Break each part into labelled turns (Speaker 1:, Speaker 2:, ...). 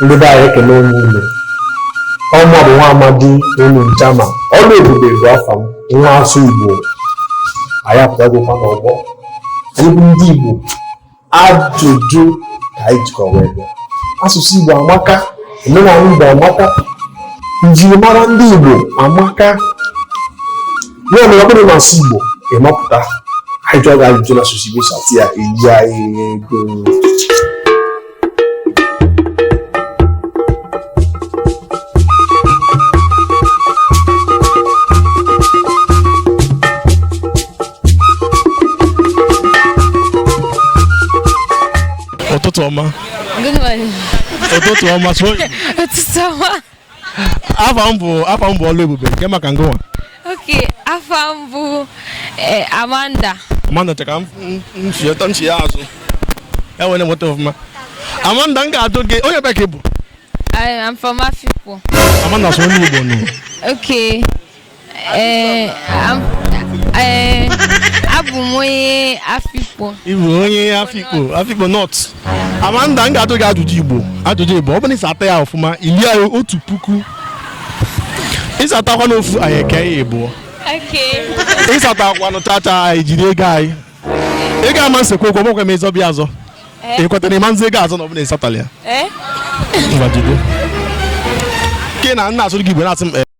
Speaker 1: ndị be anyị ekenee m unu ọ mmadụ nwa amadi unu ncha ma Oluebube bụ afa m nwa asụ igbo anyị apụtagokwa n'ọgbọ anyị bụ ndị igbo ajụjụ ka anyị jikwa wee bịa asụsụ igbo amaka omenala igbo amaka njirimara ndị igbo amaka ya mere ọ bụrụ na asụ igbo ị mapụta anyị jụọ gị ajụjụ na asụsụ igbo sata ya elie anyị ego ụtụtụ ọma Good morning. ụtụtụ ọma so Ụtụtụ ọma. afa m bụ afa m bụ Oluebube kee maka ngị nwa okay afa m bụ eh, amanda amanda cheka mchieta mchi ya azụ enwere nweta ọfụma amanda m ga-ajụ gị onye ebee ka ị bụ I'm from Afikpo. Amanda, sụọ n'Igbo nụ. Okay. Ee, ab- ee, abụ m onye Afikpo. Ị bụ onye Afikpo, Afikpo North. Amanda, m ga-ajụ gị ajụjụ Igbo. Ajụjụ Igbo, ọ bụrụ na ị sata ya ọfụma, i lie otu puku. Ị satakwanụ ofu, anyị eke ya ịbụọ. Okay. Ị satakwanụ chacha, anyị jiri ego anyị. Ị ga-ama nsekwa okwu, ọgbakwa m ịzọ bịa azọ. Ị kwetara na ị ma-azọ ego azọ na ọ bụrụ na ị satala ya. Eh? Ngwa jide. Ke na m na-asụrụ gị Igbo na-asị m, eh,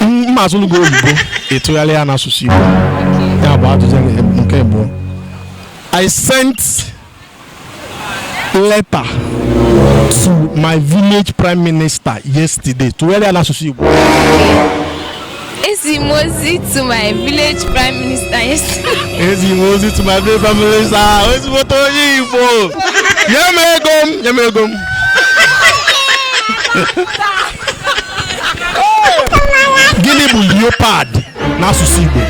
Speaker 1: m ga-asụlụ gị oyibo ị tụgharịa ya n'asụsụ Igbo ya bụ ajụjụ nke abụọ I sent letter to my village prime minister yesterday tụgharịa n'asụsụ Igbo Ezi m ozi to my village prime minister yesterday. Ezi m ozi to my village prime minister ezigbote onye Igbo nye m ego m nye m ego m gịnị bụ leopard n'asụsụ Igbo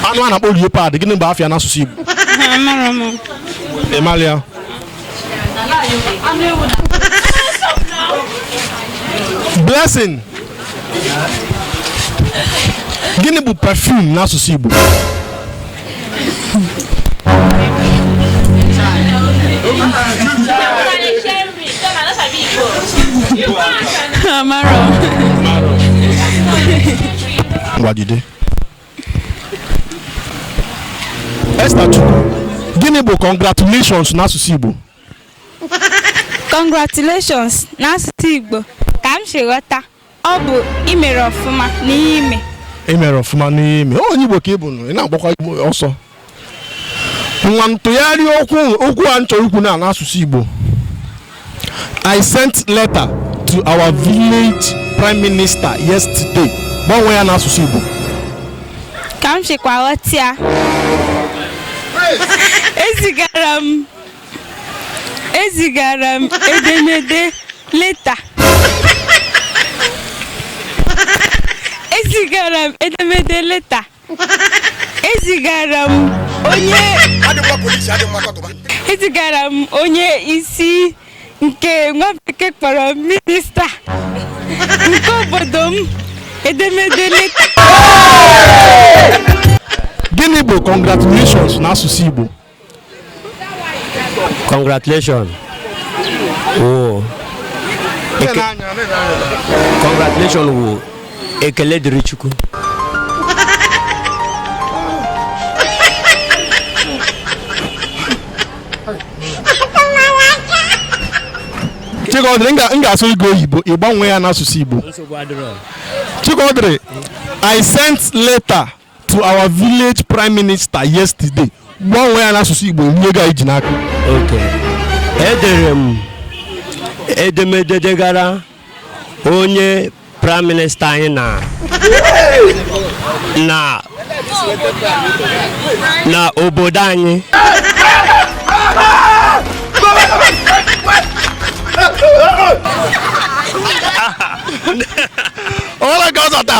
Speaker 1: anụ a na-akpọ leopard gịnị bụ afa ya n'asụsụ Igbo ị mara ya blessing gịnị bụ perfume n'asụsụ Igbo ngwa jide Esther Chukwu gịnị bụ congratulations n'asụsụ Igbo Congratulations n'asụsụ Igbo ka m si ghọta ọ bụ i mere ọfụma n'ihe i me i mere ọfụma n'ihe i me onye igbo ka ị bụ nụ ị na-agbakwa igbo ọsọ ngwa tụgharịa okwu okwu a m chọrọ ikwu na n'asụsụ igbo i sent letter to our village prime minister yesterday gbanwee ya n'asụsụ igbo ka m sikwa ghọta ya ezigara m ezigara m edemede leta ezigara m edemede leta ezigara m onye ezigara m onye isi nke nwa bekee kpọrọ minista nke obodo m edemede leta gịnị bụ congratulations n'asụsụ igbo congratulations wụ eke- congratulations wụ ekele dịrị chukwu chikọdịrị m ga- m ga-asụ gị oyibo ị gbanwee ya n'asụsụ igbo chikọdịrị i sent letter to our village prime minister yesterday gbanwee ya n'asụsụ igbo nye ga iji n'aka okay edere m edemede degara onye praịm minista anyị na na na obodo anyị ọla ka ọ zọta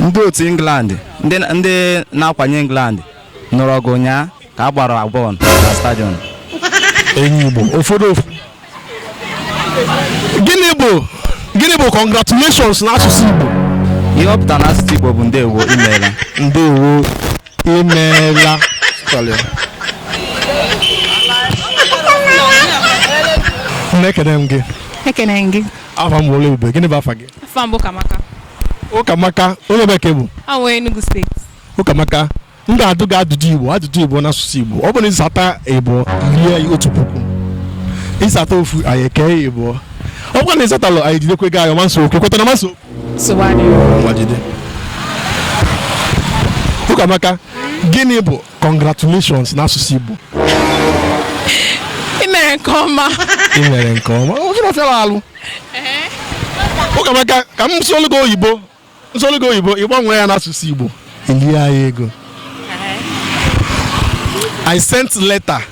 Speaker 1: ndị otu England ndị ndị na-akwanye England nụrụ ọgụ ụnyaa ka a gbara bọọlụ na stadiọm enyi igbo ụfọdụ ụf- gịnị bụ gịnị bụ congratulations n'asụsụ igbo ihe ọ pụtara n'asụsụ Igbo bụ ndewo i meela ndewo i meela na-ekene m gị ekene gị afa m wole ube gịnị bụ afa gị afa m bụ kamaka ụkamaka onye ebee ka ị bụ awụ enugu steeti ụkamaka m ga-ajụ gị ajụjụ ịbụọ ajụjụ ịbụọ n'asụsụ igbo ọ bụrụ na ị sata ịbụọ i rie ya otu puku ị sata ofu anyị ekee ya ịbụọ ọ bụrụ na ị satarọ anyị jidekwe gị ayọ manso okwu kwetara manso nsogbu adịghị ngwa jide ụkamaka gịnị bụ congratulations n'asụsụ Igbo ị mere nke ọma ị mere nke ọma ọ bụrọ ife fịara alụ ụkamaka ka m sụọlụ gị oyibo m sụọlụ gị oyibo ị gbanwee ya n'asụsụ Igbo i lie anyị ego I sent letter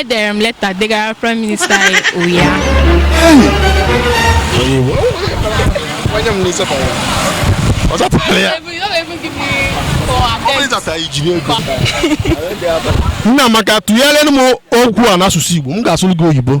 Speaker 1: edere m leta degara praịm minista anyị ụnyaahụ Nnamaka tụgharịrị m okwu a n'asụsụ Igbo m ga-asụrụ gị oyibo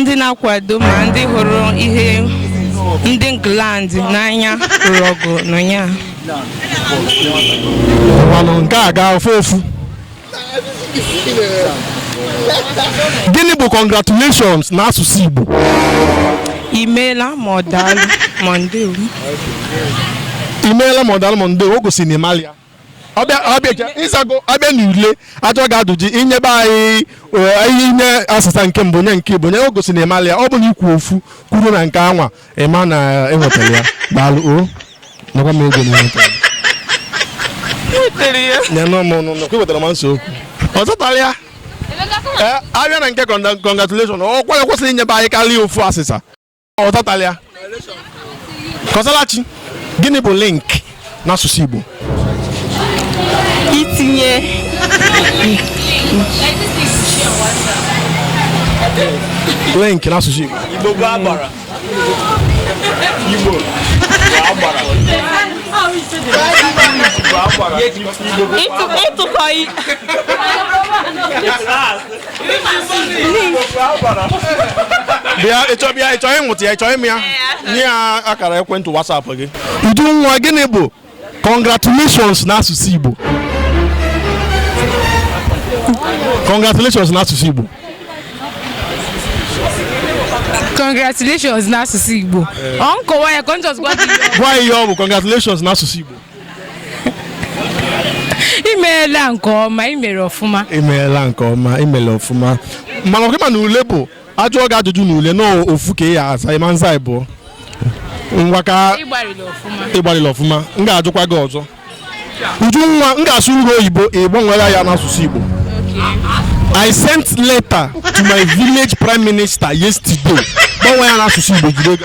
Speaker 1: ndị na-akwado ma ndị hụrụ ihe ndị England n'anya lụrụ ọgụ n'ụnyaahụ Ngwanụ, nke a gafee ofu gịnị bụ congratulations n'asụsụ Igbo imeela ma ọ daalụ ma ndewo imeela ma ọ daalụ ma ndewo o gosiri na ị malị ya ọbịa ọbịa je ị zago a bịa na ule ajọ ga-adụji inyebe anyị eh, ihe inye azịza nke mbụ nye nke ịbụọ nye o gosi na ị malị ya ọ bụ na i kwuo ofu kwụrụ na nke anwa ịma na enwetara ya daalụ o nakwa m ego na enwetara nyanụ m ọnụ nọ kwewetara m nso okwu ọ zatara ya Eh, a bịa na nke congratulation o kwesịrị inyebe anyị karịa ofu azịza ọ zatala ya Kọsalachi gịnị bụ link n'asụsụ Igbo itinye link n'asụsụ Igbo Igbo bụ agbara Igbo bụ agbara ịtụkọ bịa ịchọ bịa ịchọ ịmụta ya ịchọ ịmụ ya nye ya akara ekwentị wasapụ gị Ujunwa gịnị bụ congratulations n'asụsụ igbo congratulations n'asụsụ igbo congratulations n'asụsụ igbo ọ nkọwa ya ka ọ njọs gwa gị gwa ya ihe ọ bụ congratulations n'asụsụ igbo imeela nke ọma imere ọfụma imeela nke ọma imere ọfụma mana ọ kwa ị ma na ule bụ a jụọ gị ajụjụ na ule na ofu ka ị ya-aza ị ma-aza ịbụọ ngwa ka ị gbalịala ọfụma m ga-ajụkwa gị ọzọ Ujunwa m ga-asụrụ gị oyibo ị gbanwee ya n'asụsụ Igbo I sent letter to my village prime minister yesterday gbanwe ya n'asụsụ Igbo jide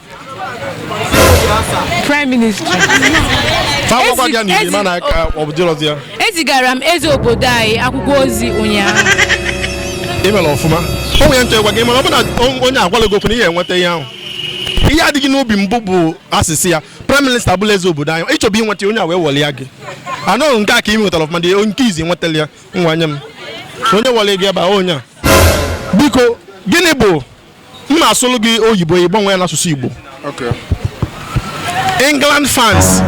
Speaker 1: prime minister Akwụkwọ Ezi- ya n'iri ezi- mana ka ọ bụ dịrọzi ya ezigara m eze obodo anyị akwụkwọ ozi ụnyaahụ imere ọfụma o nwere ntị gwa gị mana ọ bụrụ na on- onye agwala gị okwu na ihe enweta ihe ahụ ihe adịghị n'obi mbụ bụ azịza ya praịm minista bụ eze obodo anyị ị chọbụ inweta ya, onye a wee wọlị ya gị anọghị nke a ka ị nwetara ọfụma dị nke izi nwetara ya ngwa nye m onye wọlị gị ebe a onye a biko gịnị bụ m na-asụrụ gị oyibo ị gbanwee ya n'asụsụ igbo Okay. england fans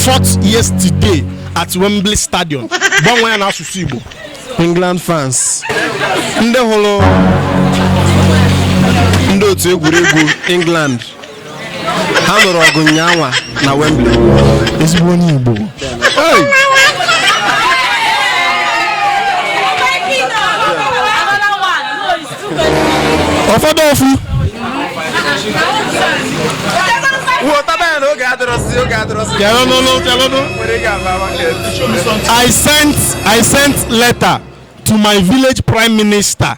Speaker 1: fought yesterday at wembley stadium gbanwee ya n'asụsụ igbo england fans ndị hụrụ ndị otu egwuregwu england ha lụrụ ọgụ nnyaanwa na Wembley ezigbo onye Igbo ọ fọdụ ofu I sent I sent letter to my village prime minister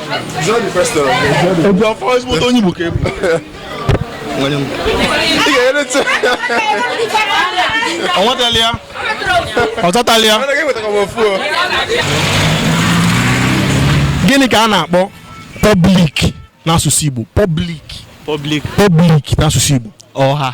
Speaker 1: Ebi afọ ezigbo onye Igbo ka ị bụ. Ọ nwetala ya? Ọ chọtala ya? Gịnị ka a na-akpọ public n'asụsụ Igbo? Public. Public. Public n'asụsụ Igbo. Ọha.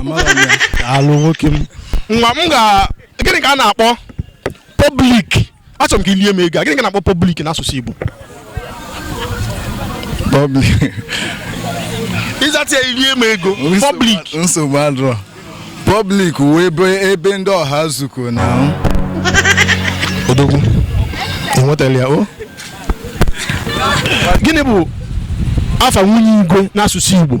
Speaker 1: Amara m ya. Daalụ nwoke m. nwa m ga gịnị ka a na-akpọ pọblik achọrọ m ka i lie m ego a. gịnị ka a na-akpọ pọblik n'asụsụ igbo Public. ị zata ya i lie m ego pọblik Nsogbu adịrọ. Public wụ ebe ebe ndị ọha zukọ na ahụ. odogwu i nwetala ya o gịnị bụ afa nwunye igwe n'asụsụ igbo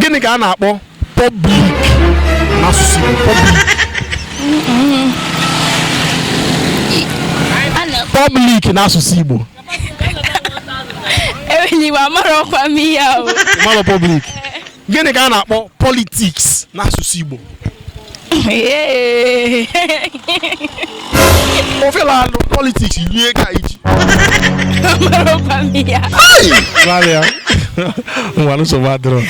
Speaker 1: gịnị ka a na-akpọ pọblik n'asụsụ Igbo pọblik pọblik n'asụsụ Igbo enweghị Igbo amara ọkwa m ihe ahụ mmadụ pọblik gịnị ka a na-akpọ politiks n'asụsụ Igbo ofe na-alụ politiks rie ka iji gbalịa ngwa nsogbu adịrọ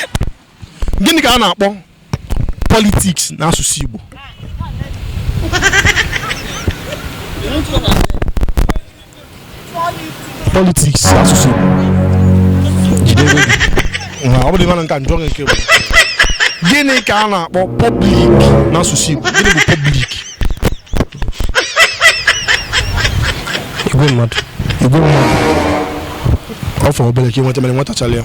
Speaker 1: gịnị ka a na-akpọ politiks n'asụsụ igbo politiks asụsụ Igbo ọ bụrụ ị mara nke a m jụọ nke bụ gịnị ka a na-akpọ pọblik n'asụsụ Igbo gịnị bụ pọblik igwe mmadụ igwe mmadụ ọ fọrọ obere ka ị nweta mana ị nwetacharọ ya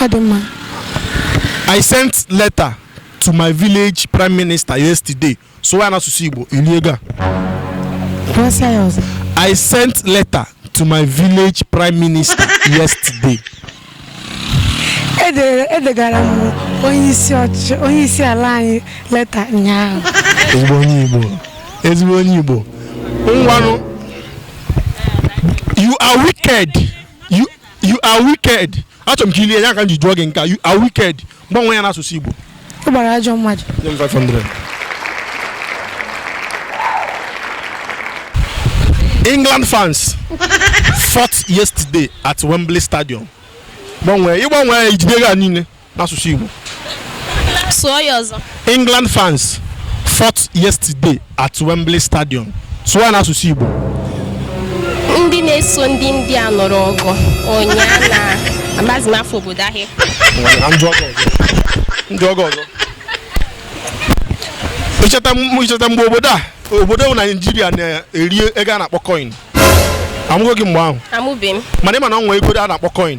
Speaker 1: ọ dị mma I sent letter to my village prime minister yesterday. Sụọ ya n'asụsụ Igbo i lie ego a? kpọsịa ya ọzọ I sent letter to my village prime minister yesterday. Edere- edegara m onye isi ọchịchị onye isi ala anyị leta ụnyaahụ Ezigbo onye Igbo. Ezigbo onye Igbo. Ngwanụ. You are wicked. You you are wicked achọrọ m ka ilie ya ka m ji jụọ gị nke a you are wicked gbanwee ya n'asụsụ igbo ọ gbara ajọ mmadụ nye m 500 england fans fought yesterday at wembley stadium gbanwee ị gbanwee ya i jide ego a niile n'asụsụ Igbo sụọ ya ọzọ England fans fought yesterday at Wembley Stadium sụọ ya n'asụsụ Igbo ndị na-eso ndị England nụrụ ọgụ ụnyaahụ na amaghịzi m afa obodo ahụ Na ndị ọgọ ọzọ. ndị ọgọ ọzọ icheta m- icheta mgbe obodo a obodo bụ Naijiria na-eri ego a na-akpọ coin amụgo gị mgbe ahụ amụbeghị m mana ị ma na o nwere ego a na-akpọ coin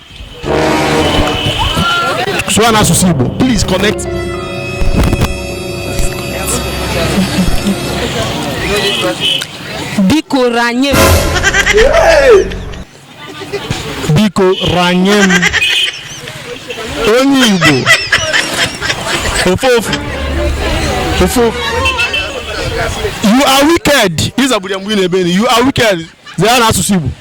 Speaker 1: sụọ n'asụsụ Igbo please connect biko ranye m biko ranye m onye Igbo ofu ofu ofu you are wicked ị zaburu ya mgbe ị na-ebe you are wicked zaa n'asụsụ Igbo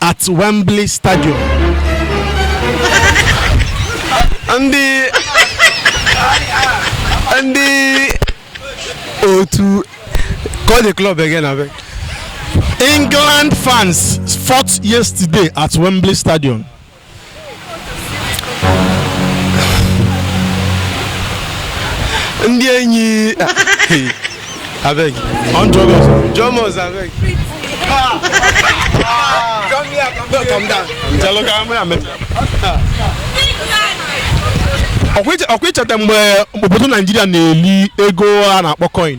Speaker 1: at Wembley Stadium. ndị ndị otu call the club again abeg. England fans fought yesterday at Wembley Stadium. ndị enyi abeg on jogos jomos abeg come here come come down jalo ka mụ ya meta ọkwa i cheta mgbe obodo naijiria na-eli ego a na-akpọ coin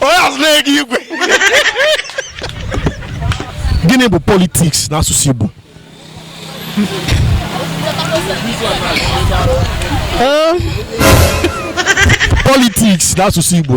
Speaker 1: onye azụ na-ege igwe gịnị bụ politiks n'asụsụ Igbo politiks n'asụsụ Igbo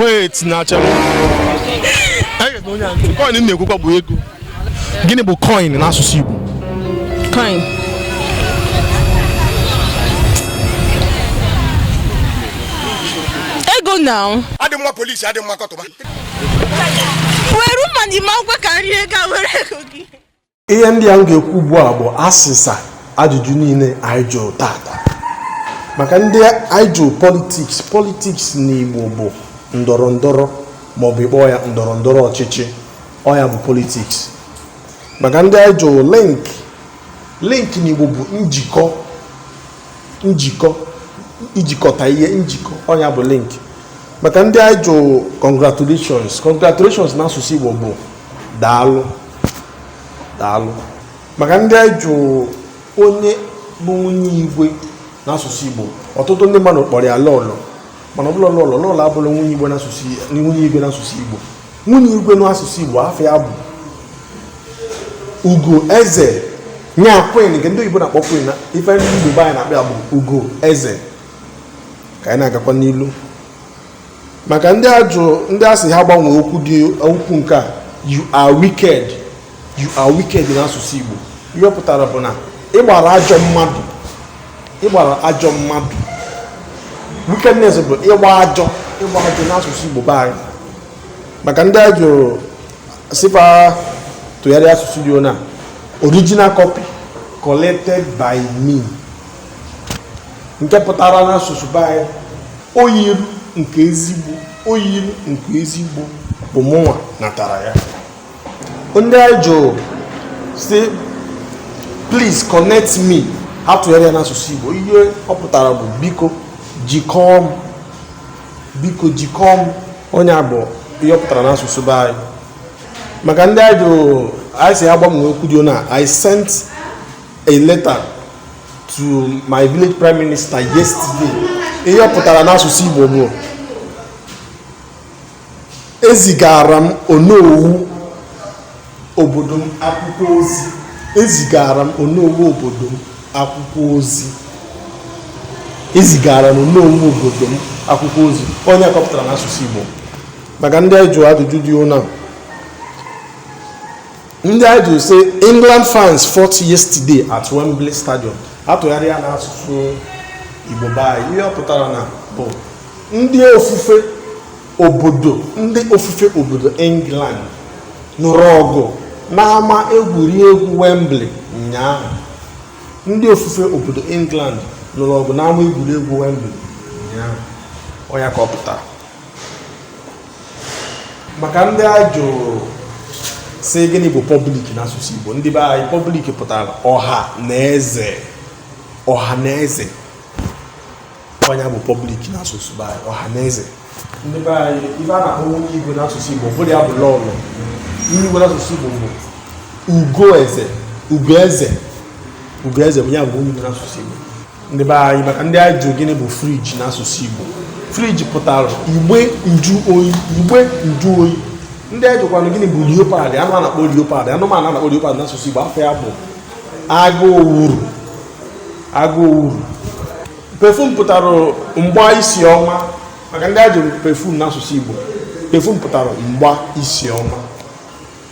Speaker 1: wait na achara coin m na-ekwukwa bụ ego gịnị bụ coin n'asụsụ Igbo coin ego na adị mma polisi adị mma kọtụma were ụma n'ime akwụkwọ ka nri ego were ego gị ihe ndị a m ga-ekwu ugbu a bụ asịsa ajụjụ niile anyị jụrụ taata maka ndị anyị jụrụ politiks politiks n'Igbo bụ ndọrọ ndọrọ maọbụ ị kpọọ ya ndọrọ ndọrọ ọchịchị ọ ya bụ politiks maka ndị anyị jụrụ link link n'Igbo bụ njikọ njikọ ijikọta ihe njikọ ọ nya bụ link maka ndị anyị jụ congratulations congratulations n'asụsụ Igbo bụ daalụ daalụ maka ndị anyị jụ onye bụ nwunye igwe n'asụsụ Igbo ọtụtụ ndị mmadụ kpọrọ ya lọlọ mana ọ bụla lọlọ lọlọ abụla nwunye igwe n'asụsụ nwunye igwe n'asụsụ Igbo nwunye igwe n'asụsụ Igbo afa ya bụ ugo eze nya queen nke ndị oyibo na-akpọ queen ife ndị Igbo be anyị na-akpọ ya bụ ugo eze ka anyị na-agakwa n'ilu maka ndị ajụ ndị a sị ha gbanwee okwu dị okwu nke a you are wicked you are wicked n'asụsụ Igbo ihe ọ pụtara bụ na ị gbara ajọ mmadụ ị gbara ajọ mmadụ wickedness bụ ịgba ajọ ịgba ajọ n'asụsụ Igbo be anyị maka ndị a jụrụ sị fa tụgharịa asụsụ dị na original copy collected by me nke pụtara n'asụsụ be anyị oyiri nke ezigbo oyiri nke ezigbo bụ mụnwa natara ya ndị anyị jụrụ sị please connect me ha tụgharịa ya n'asụsụ Igbo ihe ọ pụtara bụ biko jikọọ m biko jikọọ m ọ nya bụ ihe ọ pụtara n'asụsụ be anyị maka ndị anyị jụrụ anyị sị ha gbanwee okwu dị na I sent a letter to my village prime minister yesterday ihe ọ pụtara n'asụsụ Igbo bụ ezigara m onowu obodo m akwụkwọ ozi ezigara m onowu obodo m akwụkwọ ozi ezigara m onowu obodo m akwụkwọ ozi ọ nya ka ọ pụtara n'asụsụ Igbo maka ndị anyị jụrụ ajụjụ dị ụna ndị anyị jụ sị england fans fought yesterday at wembley stadium a tụgharịa ya n'asụsụ igbo be anyị ihe ọ pụtara na bụ ndị ofufe obodo ndị ofufe obodo england nụrụ ọgụ n'ama egwuregwu wembley ụnyaahụ ndị ofufe obodo england nụrụ ọgụ n'ama egwuregwu wembley ụnyaahụ ọ nya ka ọ pụtara maka ndị a jụrụ sị gịnị bụ public n'asụsụ Igbo ndị be anyị public pụtara ọha na eze ọha na eze ọ nya bụ public n'asụsụ be anyị ọha na eze ndị be anyị ife a na-akpọ nwunye igwe n'asụsụ Igbo abụrọ ya bụ lọlọ nwunye igwe n'asụsụ Igbo bụ ugo eze ugo eze ugo eze bụ ya bụ nwunye igwe n'asụsụ Igbo ndị be anyị maka ndị anyị jụrụ gịnị bụ fridge n'asụsụ Igbo fridge pụtara igbe nju oyi igbe nju oyi ndị anyị jụkwanụ gịnị bụ leopard anụ a na-akpọ leopard anụmanụ a na-akpọ leopard n'asụsụ Igbo afa ya bụ agụ owuru agụ owuru perfume pụtara mgba isi ọma maka ndị anyị jụrụ perfume n'asụsụ Igbo perfume pụtara mgba isi ọma